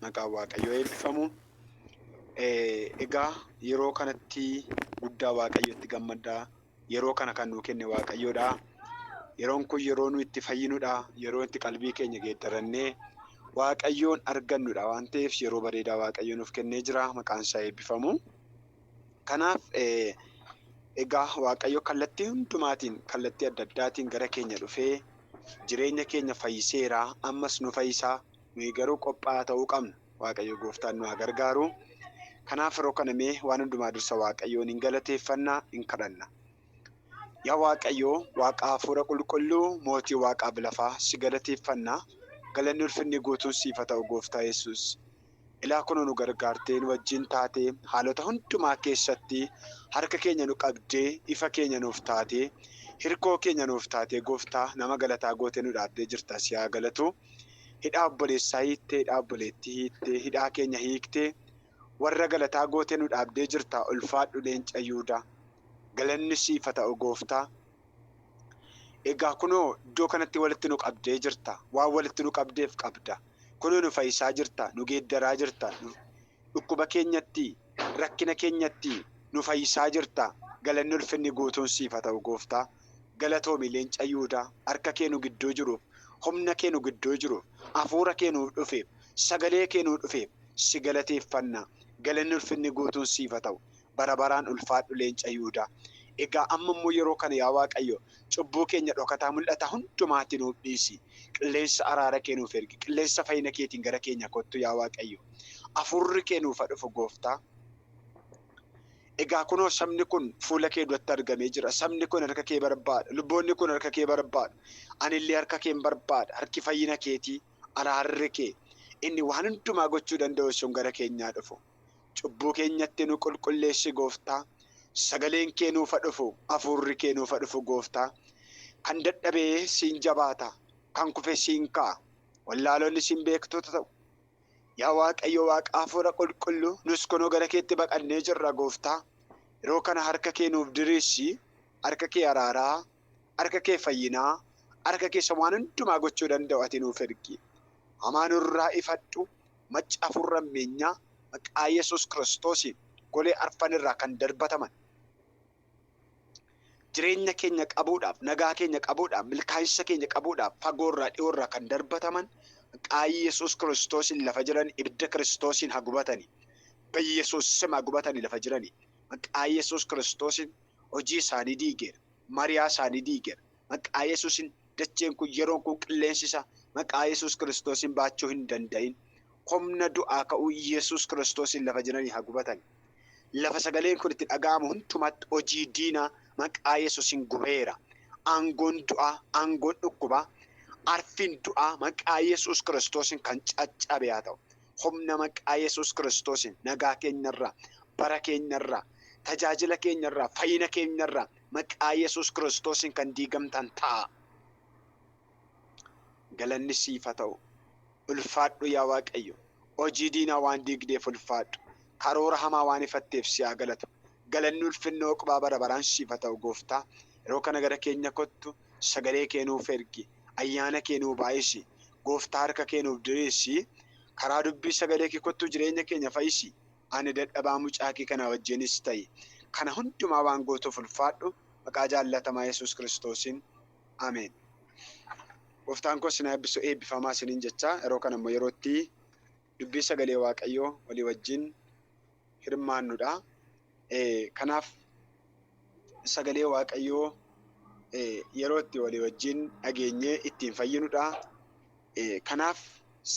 Nagaa Waaqayyoo eebbifamu. Egaa yeroo kanatti guddaa Waaqayyotti gammadda. Yeroo kana kan nuu kenne Waaqayyoodha. Yeroon kun yeroo nu itti fayyinudha. Yeroo itti qalbii keenya geeddarannee Waaqayyoon argannudha waan ta'eef yeroo bareedaa Waaqayyo nuuf kennee jira. Maqaan isaa eebbifamu. Kanaaf egaa Waaqayyo kallattii hundumaatiin kallattii adda addaatiin gara keenya dhufee jireenya keenya fayyiseera. Ammas nu fayyisaa. Nuyi garuu qophaa'aa ta'uu qabna. Waaqayyo gooftaan nu haa gargaaru. Kanaaf yeroo kana mee waan hundumaa dursa Waaqayyoon in galateeffanna, in kadhanna. Yaa Waaqayyo, Waaqa hafuura qulqulluu, mootii waaqaaf lafaa si galateeffanna. Galanni ulfinni guutuun siif haa ta'u gooftaa Yesuus. Ilaa kunoo nu gargaartee, nu wajjin taatee, haalota hundumaa keessatti harka keenya nu qabdee, ifa keenya nuuf taatee, hirkoo keenya nuuf taatee gooftaa nama galataa gootee nu dhaabdee jirta si haa galatuu. Hidhaa obboleessaa hiittee hidhaa obboleettii hiittee hidhaa keenya hiiktee warra galataa gootee nu dhaabdee jirta ulfaadhu leenca Yuudaa galanni siif haa ta'u gooftaa egaa kunoo iddoo kanatti walitti nu qabdee jirta waan walitti nu qabdeef qabda kunoo nu fayyisaa jirta nu geeddaraa jirta nu dhukkuba keenyatti rakkina keenyatti nu fayyisaa jirta galanni ulfinni guutuun siif haa ta'u gooftaa. Galatoomi leenca Yihudaa harka kee nu gidduu jiruuf, humna kee nu gidduu jiruuf, hafuura kee nuuf dhufeef, sagalee kee nuu dhufeef si galateeffanna. Galanni ulfinni guutuun siif haa ta'u. Bara baraan ulfaadhu leenca Yihudaa. Egaa amma immoo yeroo kana yaa Waaqayyo cubbuu keenya dhokataa mul'ata hundumaati nuuf dhiisi. Qilleensa araara kee nuuf ergi. Qilleensa fayyina keetiin gara keenya kottu yaa Waaqayyo. Hafuurri kee nuuf haa dhufu gooftaa. Egaa kunoo sabni kun fuula kee duratti argamee jira, sabni kun harka kee barbaada, luboonni kun harka kee barbaadu, ani illee harka keen barbaada, harki fayyina keetii, araarri kee, inni waan hundumaa gochuu danda'u sun gara keenyaa dhufu. Cubbuu keenyatti nu qulqulleessi Gooftaa, sagaleen kee nuufa dhufu, hafuurri kee nuufa dhufu Gooftaa. Kan dadhabe siin jabaata, kan kufe siin ka'a, wallaaloonni siin beektota ta'u. Yaa Waaqayyo Waaqa Hafuura Qulqulluu, nus kunoo gara keetti baqannee jirra, Gooftaa. Yeroo kana harka kee nuuf diriirsi, harka kee araaraa, harka kee fayyinaa, harka kee isa waan hundumaa gochuu danda'u ati nuuf ergi. Hamaa nurraa ifadhu, macca hafuurri hammeenyaa maqaa Yesuus Kiristoosiin golee arfan irraa kan darbataman, jireenya keenya qabuudhaaf, nagaa keenya qabuudhaaf, milkaa'insa keenya qabuudhaaf fagoorraa dhiyoorraa kan darbataman qaayii Yesuus Kiristoosiin lafa jiran ibidda Kiristoosiin haa gubatani. Beyesuus sim haa gubatani lafa jirani. Maqaa Yesuus Kiristoosiin hojii isaanii diigeera. Mariyaa isaanii diigeera. Maqaa Yesuusin dacheen kun yeroon kun qilleensi isaa maqaa Yesuus Kiristoosiin baachuu hin danda'in. Humna du'aa ka'uu Yesuus Kiristoosiin lafa jiranii haa gubatan. Lafa sagaleen kun itti dhaga'amu hundumaatti hojii diinaa maqaa Yesuusin gubeera. Aangoon du'aa, aangoon dhukkubaa, arfiin du'aa maqaa Yesuus Kiristoosiin kan caccabe haa ta'u. Humna maqaa Yesuus Kiristoosiin nagaa keenyarraa, bara keenyarraa, tajaajila keenyarraa, fayyina keenyarraa, Maqaa Yesuus Kiristoosiin kan diigamtan ta'aa. Galanni siif haa ta'u. Ulfaadhu yaa Waaqayyo. Hojii diinaa waan diigdeef ulfaadhu. Karoora hamaa waan ifatteef si haa galatu. Galanni ulfinni oqbaa bara baraan siif haa ta'u Gooftaa. Yeroo kana gara keenya kottu, sagalee kee nuuf ergi, ayyaana kee nuu baay'isi. Gooftaa harka kee nuuf diriirsi, karaa dubbii sagalee kee kottuu jireenya keenya fayyisi. Ani dadhabaa mucaa kee kana wajjinis ta'i. Kana hundumaa waan gootuuf ulfaadhu. Maqaa jaallatamaa Yesuus Kiristoosiin. Ameen. Gooftaan koo isin haa eebbisu. Eebbifamaa isiniin jechaa yeroo kana immoo yeroo itti dubbii sagalee Waaqayyoo walii wajjin hirmaannudha. Kanaaf sagalee Waaqayyoo yeroo itti walii wajjin dhageenyee ittiin fayyinudha. Kanaaf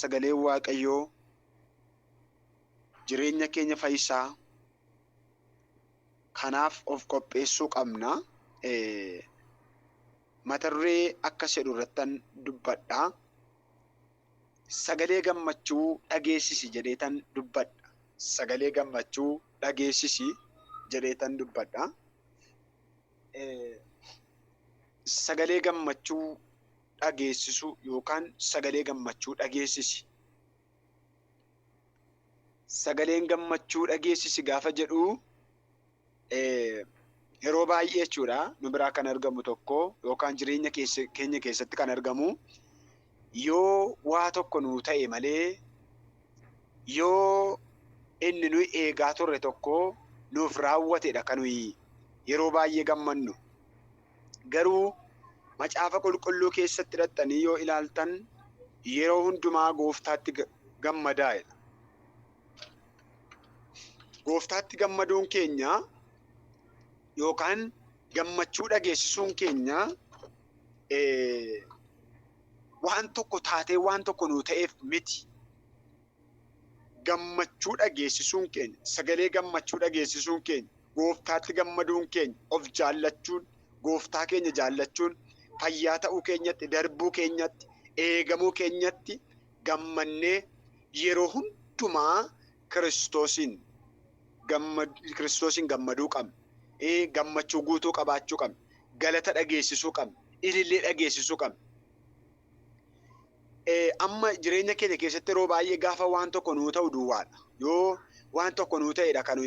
sagaleen Waaqayyoo jireenya keenya fayyisa. Kanaaf of qopheessuu qabna. Mata duree akkas jedhu irrattan dubbadha. Sagalee gammachuu dhageessisi jedheetan dubbadha. Sagalee gammachuu dhageessisi jedheetan dubbadha. Sagalee gammachuu dhageessisu yookaan sagalee gammachuu dhageessisi. sagaleen gammachuu dhageessisi gaafa jedhu yeroo baay'ee jechuudha nu biraa kan argamu tokko yookaan jireenya keenya keessatti kan argamu yoo waa tokko nu ta'e malee yoo inni nuyi eegaa turre tokko nuuf raawwatedha kan nuyi yeroo baay'ee gammannu. Garuu Macaafa Qulqulluu keessatti dhaqxanii yoo ilaaltan, yeroo hundumaa Gooftaatti gammadaa jedha. Gooftaatti gammaduun keenya yookaan gammachuu dhageessisuun keenya waan tokko taatee waan tokko nuu ta'eef miti. Gammachuu dhageessisuun keenya, sagalee gammachuu dhageessisuun keenya, Gooftaatti gammaduun keenya, of jaallachuun, Gooftaa keenya jaallachuun, fayyaa ta'uu keenyatti, darbuu keenyatti, eegamuu keenyatti gammannee yeroo hundumaa Kiristoosiin Kiristoosiin gammaduu qabna. Gammachuu guutuu qabaachuu qabna. Galata dhageessisuu qabna. Ilillee dhageessisuu qabna. amma jireenya keenya keessatti yeroo baay'ee gaafa waan tokko nuu ta'u duwwaadha. Yoo waan tokko nuu ta'edha kan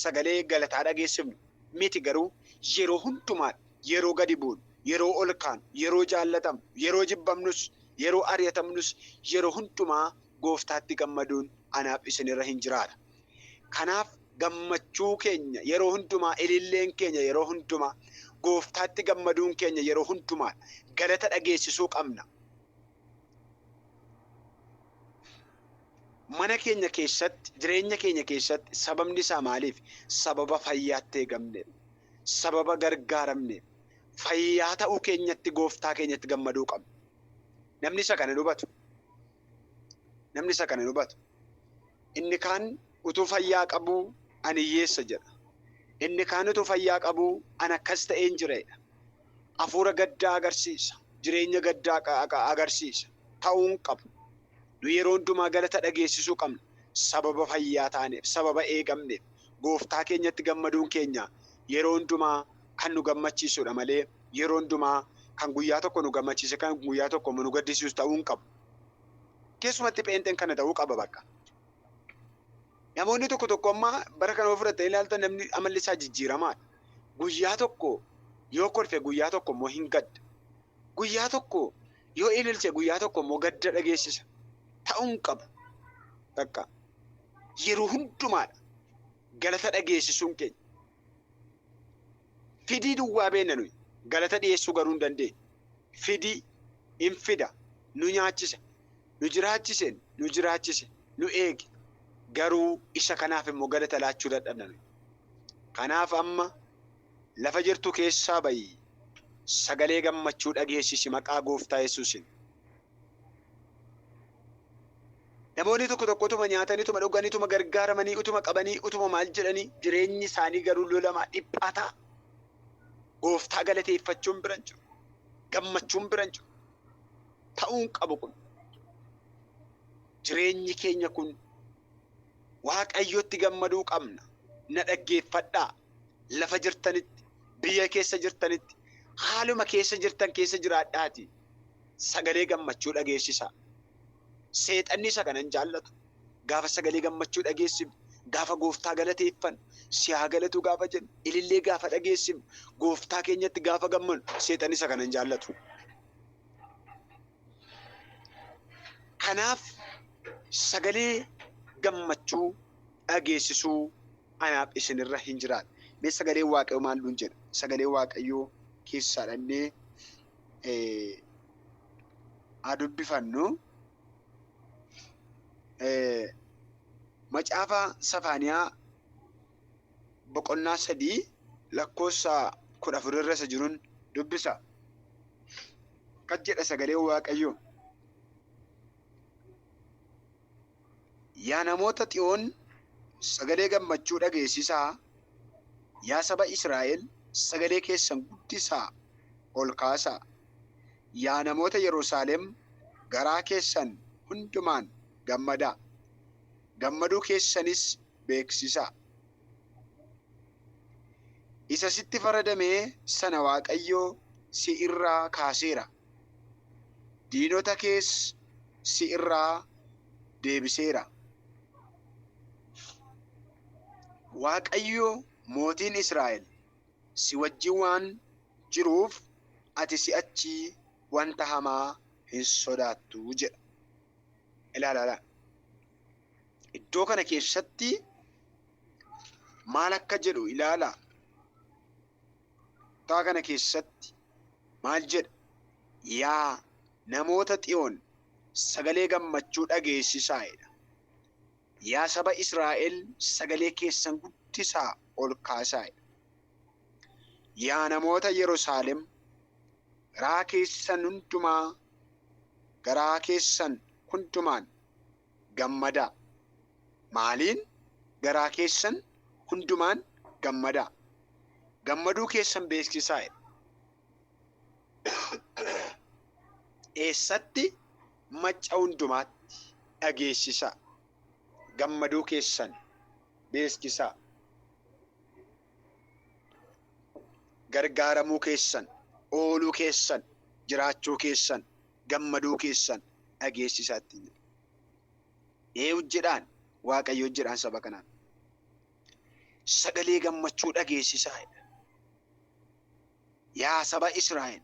sagalee galataa dhageessifnu miti garuu yeroo hundumaa yeroo gadi bu'un yeroo ol kaan yeroo jaallatamnu yeroo jibbamnus yeroo ari'atamnus yeroo hundumaa gooftaatti gammaduun anaaf isinirra hin jiraata. Kanaaf gammachuu keenya yeroo hundumaa, ililleen keenya yeroo hundumaa, Gooftaatti gammaduun keenya yeroo hundumaa dha. Galata dhageessisuu qabna. Mana keenya keessatti, jireenya keenya keessatti sababni isaa maaliif? Sababa fayyaatti eegamneef, sababa gargaaramneef, fayyaa ta'uu keenyatti Gooftaa keenyatti gammaduu qabna. Namni isa kana hin hubatu. Namni isa kana hin hubatu. Inni kaan utuu fayyaa qabuu, Ani hiyyeessa jedha. Inni kaan utuu fayyaa qabuu, Ani akkas ta'een jira jedha. Hafuura gaddaa agarsiisa, jireenya gaddaa agarsiisa, ta'uu hin qabu. Nu yeroo hundumaa galata dhageessisuu qabna, sababa fayyaa taaneef, sababa eegamneef. Gooftaa keenyatti gammaduun keenya yeroo hundumaa kan nu gammachiisu dha malee, yeroo hundumaa kan guyyaa tokko nu gammachiisee kan guyyaa tokko immoo nu gaddisiisu ta'uu hin qabu. Keessumatti pheenxeen kana ta'uu qaba bakka. Namoonni tokko tokko amma bara kana yoo fudhattanii ilaaltan namni amalli isaa jijjiiramaadha. Guyyaa tokko yoo kolfe guyyaa tokko immoo hin gadda. Guyyaa tokko yoo ililche guyyaa tokko immoo gadda dhageessisa. Ta'uu hin qabu. Bakka yeroo hundumaadha. Galata dhageessisuun keenya. Fidii duwwaa beenna nuyi, galata dhiyeessuu garuu hin dandeenyu. Fidii, in fida, nu nyaachisa, nu jiraachisen, nu jiraachise, nu eege, garuu isa kanaaf immoo galata laachuu dadhabna nuyi. Kanaaf amma lafa jirtu keessaa ba'i, sagalee gammachuu dhageessisi maqaa Gooftaa Yesuusiin. Namoonni tokko tokko utuma nyaatanii, utuma dhuganii, utuma gargaaramanii, utuma qabanii, utuma maal jedhanii jireenyi isaanii garuu lolamaa, dhiphaataa. Gooftaa galateeffachuun bira hin jiru. Gammachuun bira hin jiru. Ta'uu hin qabu kun. Jireenyi keenya kun Waaqayyotti gammaduu qabna. Na dhaggeeffadhaa. Lafa jirtanitti, biyya keessa jirtanitti, haaluma keessa jirtan keessa jiraadhaatii. sagalee gammachuu dhageessisaa. Seexanni isa kana hin jaallatu. Gaafa sagalee gammachuu dhageessinu, gaafa gooftaa galateeffannu, si haa galatuu gaafa jennu, ilillee gaafa dhageessinu, gooftaa keenyatti gaafa gammanu, seexanni isa kana hin jaallatu. Kanaaf sagalee gammachuu dhageessisuu anaaf isinirra hin jiraatu. Mee sagalee waaqayyoo maal nuun jedha? Sagalee waaqayyoo keessaa dhannee haa dubbifannu. Macaafa Safaaniyaa boqonnaa sadii lakkoofsa kudha afur irra isa jiruun dubbisa. Akkas jedha sagaleen Waaqayyoo. Yaa namoota Xiyoon sagalee gammachuu dhageessisaa, yaa saba Israa'el sagalee keessan guddisaa ol kaasaa. Yaa namoota Yerusaalem garaa keessan hundumaan gammadaa, gammaduu keessanis beeksisaa. Isa sitti faradame sana Waaqayyo si irraa kaaseera. diinota kees si irraa deebiseera. Waaqayyo mootiin Israa'el si wajjin waan jiruuf ati si'achi wanta hamaa hin sodaattu jedha. Ilaalaa iddoo kana keessatti maal akka jedhu ilaalaa. Kutaa kana keessatti maal jedha? Yaa namoota Xiyoon sagalee gammachuu dhageessisaa! jedha. Yaa saba Israa'el sagalee keessan guddisaa ol kaasaa! jedha. Yaa namoota Yerusaalem garaa keessan hundumaa garaa keessan hundumaan gammadaa. Maaliin? Garaa keessan hundumaan gammadaa. Gammaduu keessan beeksisaa jedha. Eessatti? Macca hundumaatti dhageessisaa. Gammaduu keessan beeksisaa. Gargaaramuu keessan, ooluu keessan, jiraachuu keessan gammaduu keessan dhageessisaa ittiin jedhe. Ee hojjedhaan Waaqayyo hojjedhaan saba kanaan. Sagalee gammachuu dhageessisaa jedha. Yaa saba Israa'el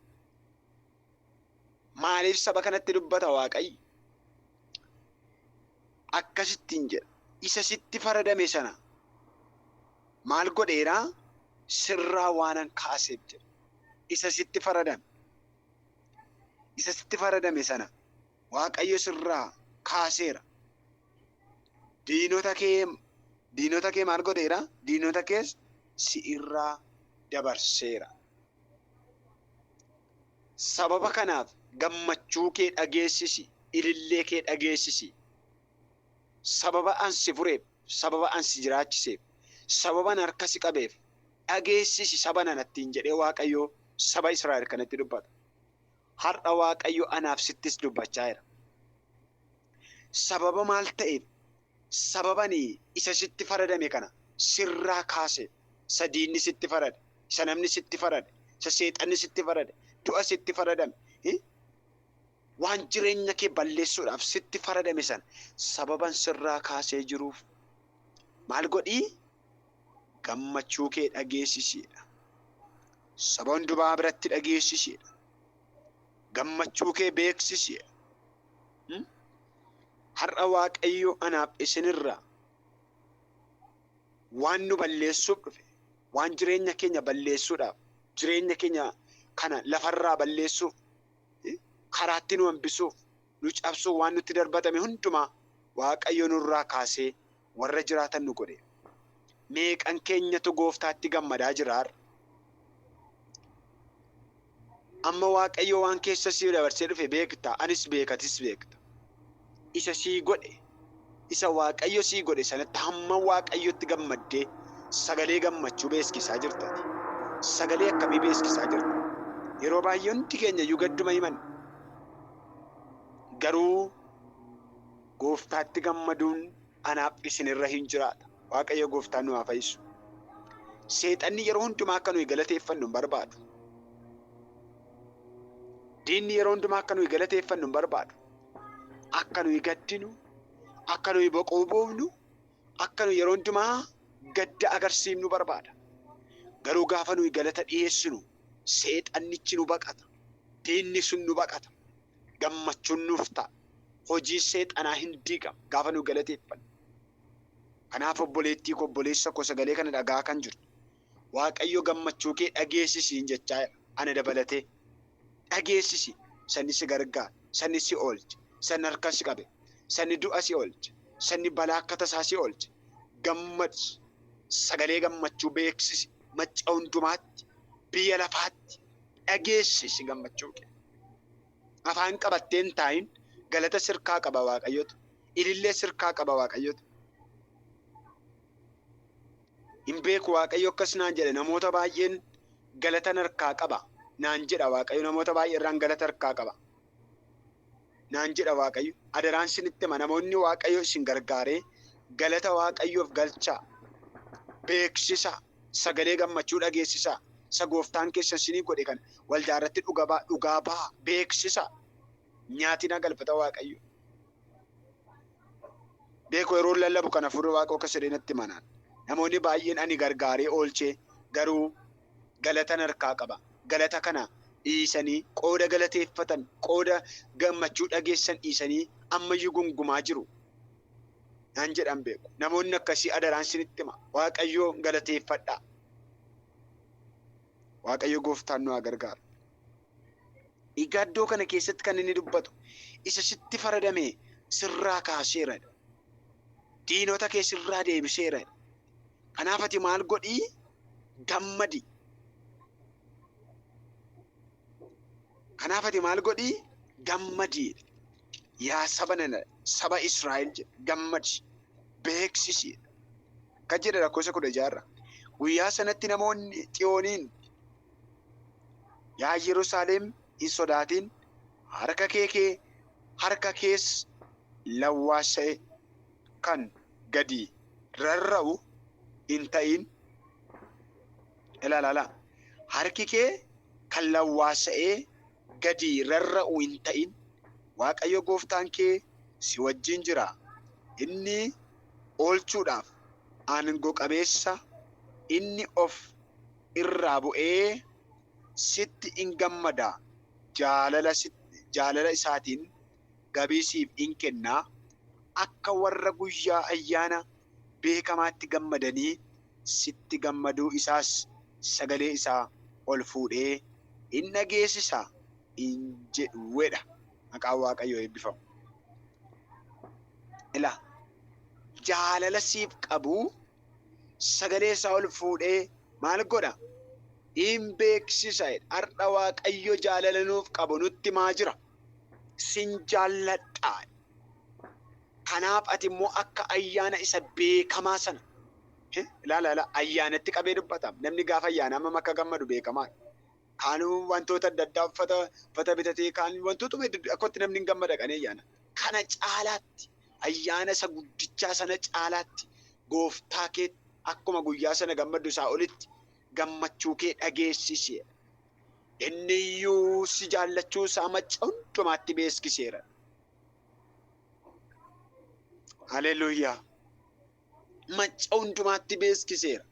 maaliif saba kanatti dubbata Waaqayyo? Akkasittiin jedha. Isa sitti faradame sana maal godheeraa? Sirraa waanan kaaseef jedha. Isa sitti faradame. isa sitti faradame sana Waaqayyo sirraa kaaseera. Diinota kee diinota kee maal godheera? Diinota kees si irraa dabarseera. Sababa kanaaf gammachuu kee dhageessisi, ilillee kee dhageessisi. Sababa an si fureef, sababa an si jiraachiseef, sababa an harka si qabeef, dhageessisi saba nana ittiin jedhee Waaqayyo saba Israa'el kanatti dubbata. Har'a Waaqayyo anaaf sittis dubbachaa jira. Sababa maal ta'eef sababani isa sitti faradame kana sirraa kaase isa diinni sitti farade isa namni sitti farade isa seexanni sitti farade du'a sitti faradame eh? waan jireenya kee balleessuudhaaf sitti faradame sana sababan sirraa kaasee jiruuf maal godhii gammachuu kee dhageessisiidha. Saba hundumaa biratti dhageessisiidha. Gammachuu kee beeksisiidha. Hmm? Har'a Waaqayyo anaaf isinirraa waan nu balleessuuf dhufe, waan jireenya keenya balleessuudhaaf, jireenya keenya kana lafarraa balleessuuf, eh, karaatti nu hambisuuf, nu cabsuuf waan nutti darbatame hundumaa Waaqayyo nurraa kaasee warra jiraatan nu godhe. Meeqan keenyatu gooftaatti gammadaa jira har'a? Amma Waaqayyo waan keessa si dabarsee dhufe beekta, anis beeka, atis beekta. Isa sii godhe, isa Waaqayyo sii godhe sanatti hamma Waaqayyotti gammaddee sagalee gammachuu beeskisaa jirta ati. Sagalee akkamii beeskisaa jirta? Yeroo baay'ee hundi keenya iyyuu gadduma himanna. Garuu Gooftaatti gammaduun anaaf isin irra hin jiraata. Waaqayyo gooftaan nu haa fayyisu. Seexanni yeroo hundumaa akka nuyi galateeffannu hin barbaadu. Diinni yeroo hundumaa akka nuyi galateeffannu hin barbaadu. Akka nuyi gaddinu, akka nuyi boquu buufnu, akka nuyi yeroo hundumaa gadda agarsiifnu barbaada. Garuu gaafa nuyi galata dhiyeessinu seexannichi nu baqata. Diinni sun nu baqata. gammachuun nuuf ta'a. Hojiin seexanaa hin diigama gaafa nu galateeffannu. Kanaaf obboleettii koo obboleessa koo sagalee kana dhaga'aa kan jirtu Waaqayyo gammachuu kee dhageessi siin jechaa jira ana dabalatee. Dhageessisi sanni si gargaara, sanni si oolche, sanni harka si qabe, sanni du'a si oolche, sanni balaa akka tasaa si oolche gammadi. Sagalee gammachuu beeksisi macca hundumaatti, biyya lafaatti, dhageessisi gammachuu kee. Afaan qabattee hin taa'in, galata sirkaa qaba Waaqayyotu, ilillee sirkaa qaba Waaqayyotu. Hin beeku Waaqayyo akkas naan jedhe namoota baay'een galatan harkaa qaba naan jedha Waaqayyo namoota baay'ee irraan galata harkaa qaba. naan jedha Waaqayyo. Adaraan sinitti hima namoonni Waaqayyo isin gargaaree galata Waaqayyoof galchaa, beeksisaa, sagalee gammachuu dhageessisaa, isa gooftaan keessan sinii godhe kana waldaa irratti dhuga ba'a, dhugaa ba'a, beeksisaa. Nyaatina galfata Waaqayyo. Beeku yeroo lallabu kana furri Waaqoo akka siree natti hima naan. Namoonni baay'een ani gargaaree oolchee garuu galatan harkaa qaba. Galata kana dhiisanii qooda galateeffatan, qooda gammachuu dhageessisan dhiisanii ammayyuu gungumaa jiru. Naan jedhan beeku. Namoonni akkasii adaraan isinitti hima. Waaqayyoon galateeffadhaa. Waaqayyo gooftaan nu haa gargaaru. Egaa iddoo kana keessatti kan inni dubbatu isa sitti faradame sirraa kaaseera. Diinota kee sirraa deebiseera. Kanaaf ati maal godhi? Gammadi. Kanaaf ati maal godhi? Gammadi. Yaa saba nana, saba Israa'el jedhe, gammadi. Beeksisi. Akkas jedha lakkoofsa kudha jaarra. Guyyaa sanatti namoonni Xiyooniin, yaa Yerusaalem hin sodaatin, harka kee kee harka kees lawwaasa'e. kan gadi rarra'u hin ta'in. Ilaalaalaa. Harki kee kan lawwaasa'ee gadi rarra'u hin ta'in. Waaqayyo gooftaan kee si wajjin jira. Inni oolchuudhaaf aango qabeessa, inni of irraa bu'ee sitti in gammada, jaalala isaatiin gabii siif in kenna, akka warra guyyaa ayyaana beekamaatti gammadanii sitti gammaduu isaas sagalee isaa ol fuudhee in dhageessisa in jedhuedha. Maqaan Waaqayyoo eebbifamu. Ilaa, jaalala siif qabu sagalee isaa ol fuudhee maal godha? In beeksisa. Har'a Waaqayyo jaalala nuuf qabu nutti himaa jira. Sin jaalladha. Kanaaf ati immoo akka ayyaana isa beekamaa sana eh, ilaala ilaala ayyaanatti qabee dubbata. Namni gaafa ayyaanaa hammam akka gammadu beekamaa. Kaan wantoota adda addaa uffata uffata bitatee kaan wantootuma heddu- akkatti namni hin gammada qanii ayyaana. Kana caalaatti Ayyaana isa guddichaa sana caalaatti Gooftaa keetti akkuma guyyaa sana gammaddu isaa olitti gammachuu kee dhageessisi jedha. Inni iyyuu si jaallachuu isaa macca hundumaatti beeksiseera. Haleluuyaa! macca hundumaatti beeksiseera.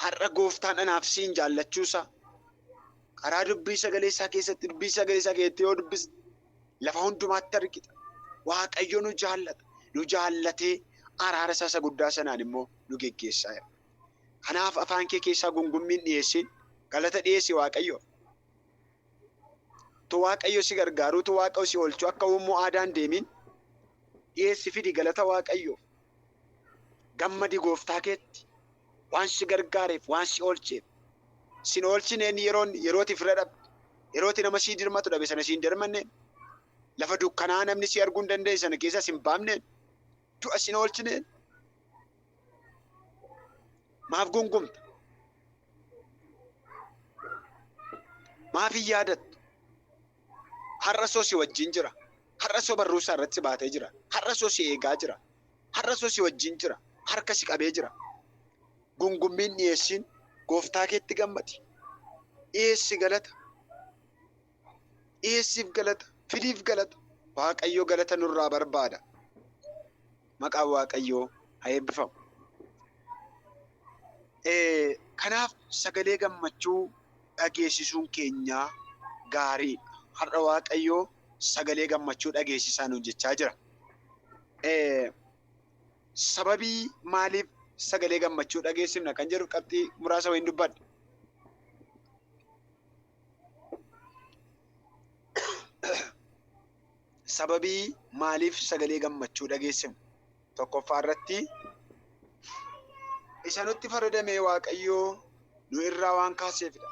Har'a gooftaan anaaf siin jaallachuu isaa karaa dubbii sagalee isaa keessatti dubbii sagalee isaa keessatti yoo dubbiste lafa hundumaatti argita. Waaqayyo nu jaallata. Nu jaallatee araara isaa isa guddaa sanaan immoo nu geggeessaa jira. Kanaaf afaan kee keessaa gungummiin dhiyeessiin galata dhiyeessi Waaqayyoof. tu waaqayyo si gargaaruu tu waaqayyo si oolchuu akka uummoo aadaan deemiin dhiyeessi fidi galata waaqayyoof gammadi gooftaa keetti waan si gargaareef waan si oolcheef sin oolchineen yeroon yerooti fira dhabe yerooti nama sii dirmatu dhabe sana siin dirmanneen lafa dukkanaa namni si arguu hin dandeenye sana keessa sin baamneen du'a sin oolchineen Maaf gungumta? Maaf hin yaadattu? Har'a soo si wajjin jira. Har'a soo barruu isaa irratti si baatee jira. Har'a soo si eegaa jira. Har'a soo si wajjin jira. Harka si qabee jira. Gungummiin dhiyeessiin gooftaa keetti gammadi. Dhiyeessi galata. dhiyeessiif galata, fidiif galata. Waaqayyo galata nurraa barbaada. Maqaan Waaqayyoo haa eebbifamu. Kanaaf sagalee gammachuu dhageessisuun keenyaa gaariidha. Har'a Waaqayyo sagalee gammachuu dhageessisaa nuun jechaa jira. Sababii maaliif sagalee gammachuu dhageessifna kan jedhu qabxii muraasa wayiin dubbadha. sababii maaliif sagalee gammachuu dhageessifnu tokkoffaa irratti isa nutti faradamee waaqayyoo nu irraa waan kaaseefidha.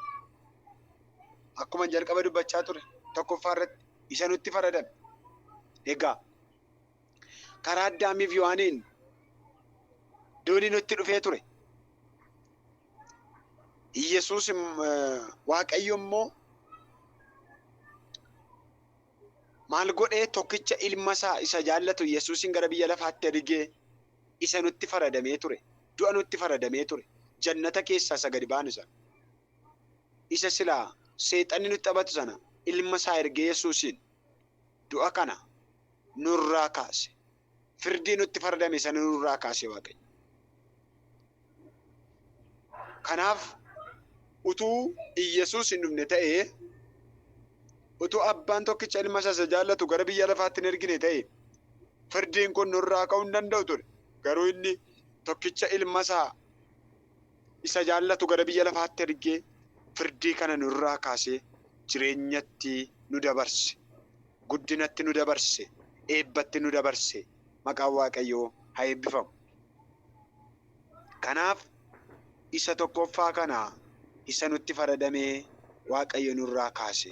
Akkuma jalqaba dubbachaa ture tokkoffaa irratti isa nutti faradame. Egaa karaa Addaamiif Yohaaniin duuni nutti dhufee ture. Yesuus im- eh, Waaqayyo immoo maal godhee tokkicha ilma isaa isa jaallatu Yesuusin gara biyya lafaatti ergee isa nutti faradamee ture. Du'a nutti faradamee ture. Jannata keessaa isa gadi baanu sana. Isa silaa seexanni nutti taphatu sana ilma isaa ergee Yesuusin du'a kana nurraa kaase. Firdii nutti fardame sana nurraa kaase Waaqayyo. Kanaaf utuu Iyyasuus hin dhufne ta'ee, utuu abbaan tokkicha ilma isaa isa jaallatu gara biyya lafaatti hin ergine ta'e, firdiin kun nurraa ka'uu hin danda'u ture. Garuu inni tokkicha ilma isaa isa jaallatu gara biyya lafaatti ergee firdii kana nu irraa kaasee jireenyatti nu dabarse, guddinatti nu dabarse, eebbatti nu dabarse. Maqaan Waaqayyoo haa eebbifamu. Kanaaf isa tokkoffaa kana isa nutti faradamee Waaqayyo nurraa kaase.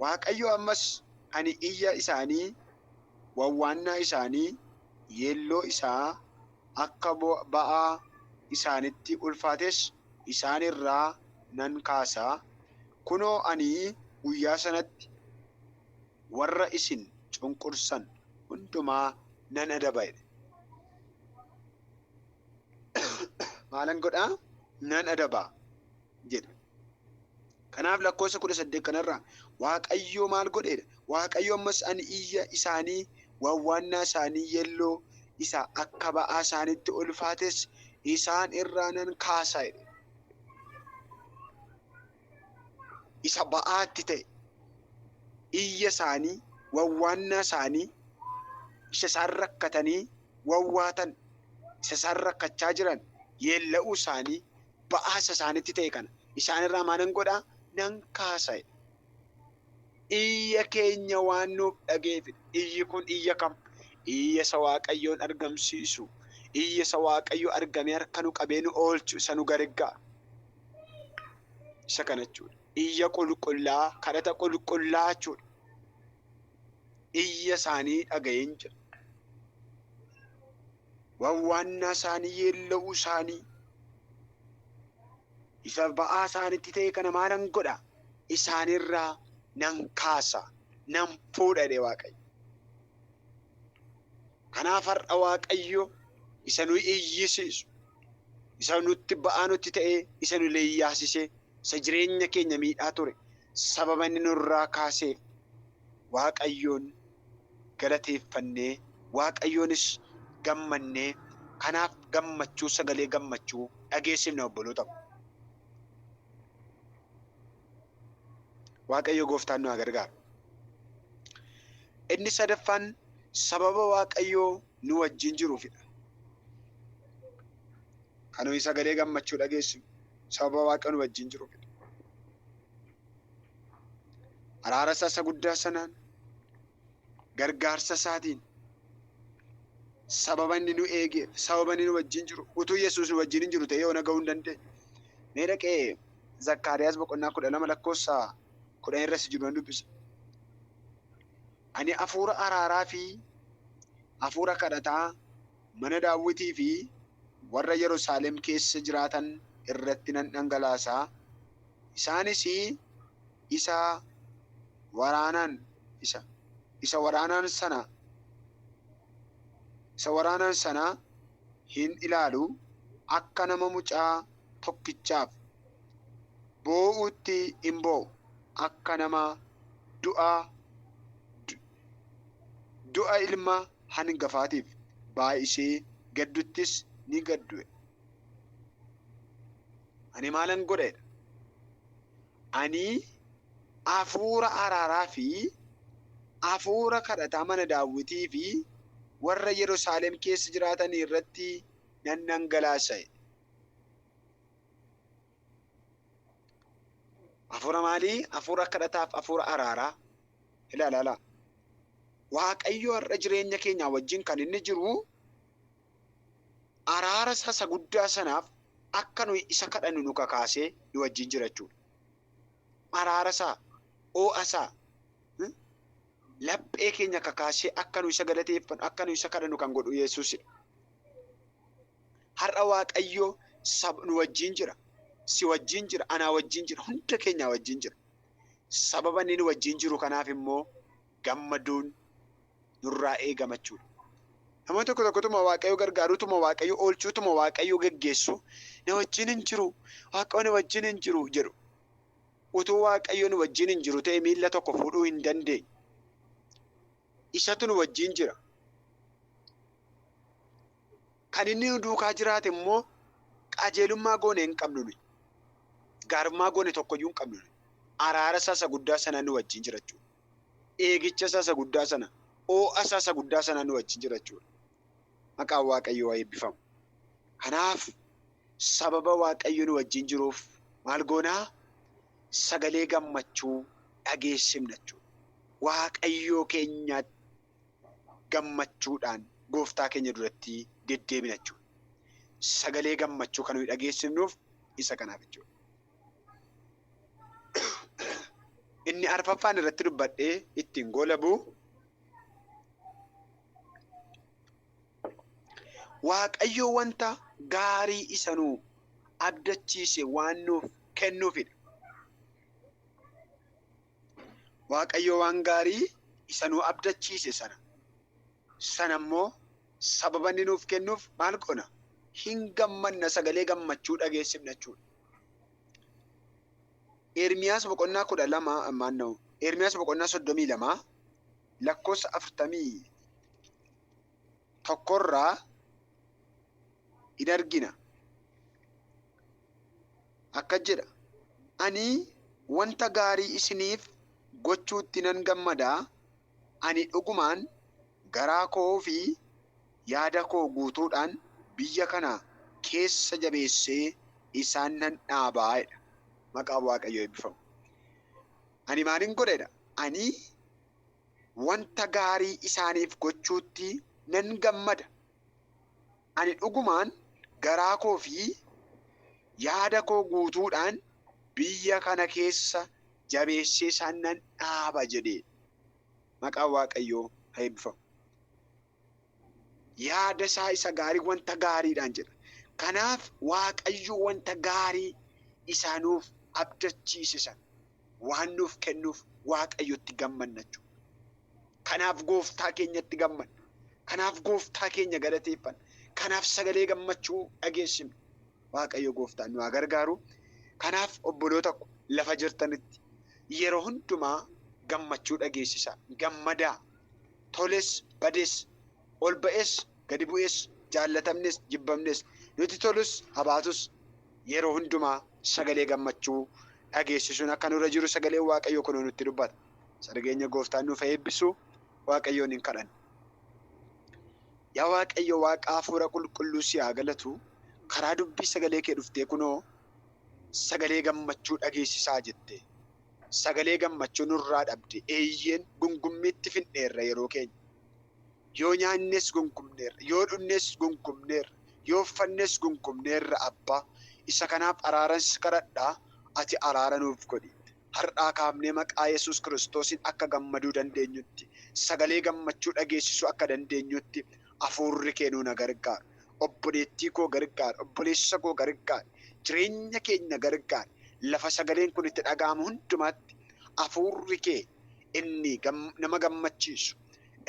Waaqayyo ammas ani iyya isaanii, wawwaannaa isaanii, yeelloo isaa, akka ba'aa isaanitti ulfaates isaan irraa nan kaasa, kunoo ani guyyaa sanatti warra isin cunqursan hundumaa nan adaba jedhe. Maalan godha? Nan adaba. jedha. Kanaaf lakkoofsa kudha saddeet kanarraa Waaqayyoo maal godheedha? Waaqayyo ammas ani iyya isaanii wawwaannaa isaanii yelloo isa akka ba'aa isaanitti ulfaates isaan irraa nan kaasa jedhe. Isa ba'aatti ta'e iyya isaanii wawwaannaa isaanii isa isaan rakkatanii wawwaatan isa isaan rakkachaa jiran yeella'uu isaanii ba'aasa isaanitti ta'e kana isaan irraa maalan godha nan kaasa jedhe. Iyya keenya waan nuuf dhageefidha. Iyyi kun iyya kam? Iyya isa Waaqayyoon argamsiisu. Iyya isa Waaqayyo argamee harka nu qabee nu oolchu isa nu gargaaru. Isa kana jechuudha. Iyya qulqullaa, kadhata qulqullaa jechuudha. Iyya isaanii dhaga'een jira. wawwaannaa isaanii yeella'uu isaanii isa ba'aa isaanitti ta'e kana maalan godha isaanirraa nan kaasa nan fuudha jedhe waaqayyo kanaaf har'a waaqayyo isa nu iyyisiisu isa nutti ba'aa nutti ta'e isa nu leeyyaasisee isa jireenya keenya miidhaa ture sababa inni nurraa kaaseef waaqayyoon galateeffannee Waaqayyoonis gammannee kanaaf gammachuu sagalee gammachuu dhageessifna obboloota ko. Waaqayyo gooftaan nu haa gargaaru. Inni sadaffaan sababa Waaqayyoo nu wajjin jiruufidha. Kan nuyi sagalee gammachuu dhageessinu sababa Waaqayyo nu wajjin jiruufidha. araara isaa isa guddaa sanaan gargaarsa isaatiin sababa inni nu eegeef sababa inni nu wajjin jiru utuu yesuus nu wajjin hin jiru ta'ee yoona ga'uu hin dandeenye mee dhaqee zakkaariyaas boqonnaa kudha lama lakkoofsa kudhan irra si jiru nan dubbisa ani hafuura araaraa fi hafuura kadhataa Mana Daawitii fi warra Yerusaalem keessa jiraatan irratti nan dhangalaasa, isaanis isa waraanaan, isa, isa waraanaan sana, isa waraanaan sana hin ilaalu, akka nama mucaa tokkichaaf boo'uutti in boo'u, akka nama du'a, du, Du'a ilma hangafaatiif baay'isee gadduttis ni gaddue. Ani maalan godha jedha. Ani afuura araaraa fi afuura kadhataa mana daawwitii fi warra Yerusaalem keessa jiraatanii irratti nan dhangalaasa jedhe. Hafuura maalii? Hafuura kadhataaf hafuura araaraa. Ilaala ilaa. Waaqayyo har'a jireenya keenyaa wajjin kan inni jiru araara isaa isa guddaa sanaaf akka nuyi isa kadhannu nu kakaasee nu wajjin jira jechuudha. Araara isaa, oo'a isaa, hmm? laphee keenya kakaasee akka nu isa galateeffannu, akka nu isa kadhannu kan godhu Yesuusidha. Har'a Waaqayyo sab nu wajjin jira. Si wajjin jira, anaa wajjin jira, hunda keenyaa wajjin jira. Sababa inni nu wajjin jiru kanaaf immoo gammaduun nurraa eegama jechuudha. Namoonni tokko tokko utuma Waaqayyo gargaaruu, utuma Waaqayyo oolchuu, utuma Waaqayyo geggeessuu na wajjin hin jiru, Waaqayyo na wajjin hin jiru jedhu. Utuu Waaqayyo nu wajjin hin jiru ta'e miilla tokko fuudhuu hin dandeenyu. Isatu nu wajjin jira. Kan inni nu duukaa jiraate immoo qajeelummaa goone hin qabnu nuyi. Gaarummaa goone tokko iyyuu hin qabnu nuyi. Araara isaa isa guddaa sanaan nu wajjin jira jechuudha. Eegicha isaa isa guddaa sana, oo'a isaa isa guddaa sanaan nu wajjin jira jechuudha. Maqaan Waaqayyoo haa eebbifamu. Kanaaf sababa Waaqayyo nu wajjin jiruuf maal goona? Sagalee gammachuu dhageessifna jechuudha. Waaqayyoo keenyaatti gammachuudhaan gooftaa keenya duratti deddeebina jechuudha. Sagalee gammachuu kan nuyi dhageessifnuuf isa kanaaf jechuudha. Inni arfaffaan irratti dubbadhee ittiin goolabu Waaqayyo wanta gaarii isa nuu abdachiise waan nuuf kennuufidha. Waaqayyo waan gaarii isa nu abdachiise sana sana immoo sababa inni nuuf kennuuf maal goona? Hin gammanna, sagalee gammachuu dhageessifna jechuudha. Ermiyaas boqonnaa kudha lama maanna'u Ermiyaas boqonnaa soddomii lama lakkoofsa afurtamii tokkorraa in argina. akkas jedha, Ani wanta gaarii isiniif gochuutti nan gammada, ani dhugumaan garaa koo fi yaada koo guutuudhaan biyya kana keessa jabeessee isaan nan dhaaba jedha. Maqaan Waaqayyoo eebbifamu! Ani maalin godha jedha? Ani wanta gaarii isaaniif gochuutti nan gammada. Ani dhugumaan garaa koo fi yaada koo guutuudhaan biyya kana keessa jabeessee isaan nan dhaaba jedhe. Maqaan Waaqayyoo haa eebbifamu. Yaada isaa isa gaarii wanta gaariidhaan jedha. Kanaaf Waaqayyo wanta gaarii isaa nuuf abdachiise sana waan nuuf kennuuf Waaqayyotti gammanna jechuudha. Kanaaf gooftaa keenyatti gammanna. Kanaaf gooftaa keenya galateeffanna. Kanaaf sagalee gammachuu dhageessifna. Waaqayyo gooftaan nu haa gargaaru. Kanaaf obboloota ko lafa jirtanitti yeroo hundumaa gammachuu dhageessisaa, gammadaa, toles bades Ol ba'es gadi bu'es, jaallatamnes jibbamnes, nuti tolus ha baatus yeroo hundumaa sagalee gammachuu dhageessisuun akka nurra jiru sagaleen Waaqayyoo kunoo nutti dubbata. Isa dhageenya Gooftaan nuuf haa eebbisu Waaqayyoon hin kadhanna. Yaa Waaqayyo Waaqa Hafuura Qulqulluu si haa galatu karaa dubbii sagalee kee dhuftee kunoo sagalee gammachuu dhageessisaa jette. Sagalee gammachuu nurraa dhabde eeyyeen gungummiitti fidneerra yeroo keenya. Yoo nyaannes gonkumneerra, yoo dhugnes gonkumneerra, yoo uffannes gonkumneerra Abbaa, isa kanaaf araaran si kadhadha, ati araara nuuf godhi. Har'aa kaafnee maqaa Yesuus Kiristoosiin akka gammaduu dandeenyutti, sagalee gammachuu dhageessisuu akka dandeenyutti Hafuurri kee nuuna gargaari. Obboleettii koo gargaari, obboleessa koo gargaari, jireenya keenya gargaari. Lafa sagaleen kun itti dhaga'amu hundumaatti Hafuurri kee inni nama gammachiisu,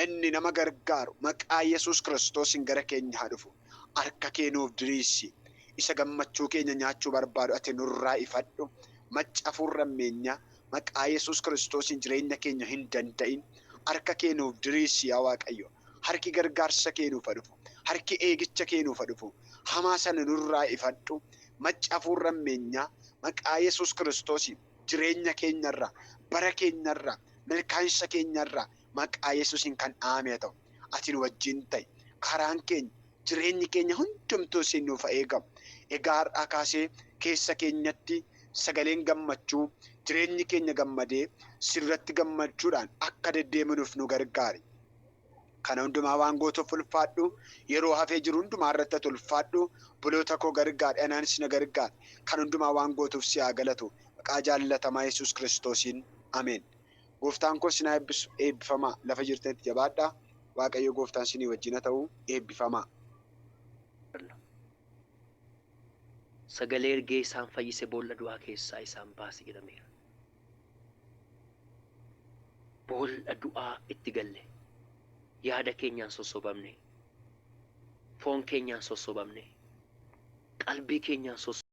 inni nama gargaaru maqaa Yesuus Kiristoosiin gara keenya haa dhufu. Harka kee nuuf diriirsi. Isa gammachuu keenya nyaachuu barbaadu ati nurraa ifadhu. Macca hafuurri hammeenyaa, maqaa Yesuus Kiristoosiin jireenya keenya hin danda'in. Harka kee nuuf diriirsi yaa Waaqayyo. Harki gargaarsa kee nuuf haa dhufu. Harki eegicha kee nuuf haa dhufu. Hamaa sana nurraa ifadhu. Macca hafuurri hammeenyaa, maqaa Yesuus Kiristoosiin. jireenya keenya irra, bara keenya irra, milkaa'insa keenya irra maqaa Yesuusiin kan dhahamee haa ta'u. Ati nu wajjin ta'i. Karaan keenya, jireenyi keenya hundumtuu siin nuuf haa eegamu. Egaa har'aa kaasee keessa keenyatti sagaleen gammachuu, jireenyi keenya gammadee si duratti gammachuudhaan akka deddeebinuuf nu gargaari. Kana hundumaa waan gootuuf ulfaadhu. Yeroo hafee jiru hundumaa irratti ati ulfaadhu. Obboloota koo gargaari, anaanis na gargaari. Kan hundumaa waan gootuuf si haa galatu. Maqaa jaallatamaa Yesuus Kiristoosiin. Ameen. Gooftaan koo isin haa eebbisu. Eebbifamaa. Lafa jirtanitti jabaadhaa. Waaqayyo Gooftaan isinii wajjin haa ta'u. Eebbifamaa. Sagalee ergee isaan fayyise boolla du'aa keessaa isaan baase jedhameera. Boolla du'aa itti galle. Yaada keenyaan sossobamne. Foon keenyaan sossobamne. Qalbii keenyaan sossobamne.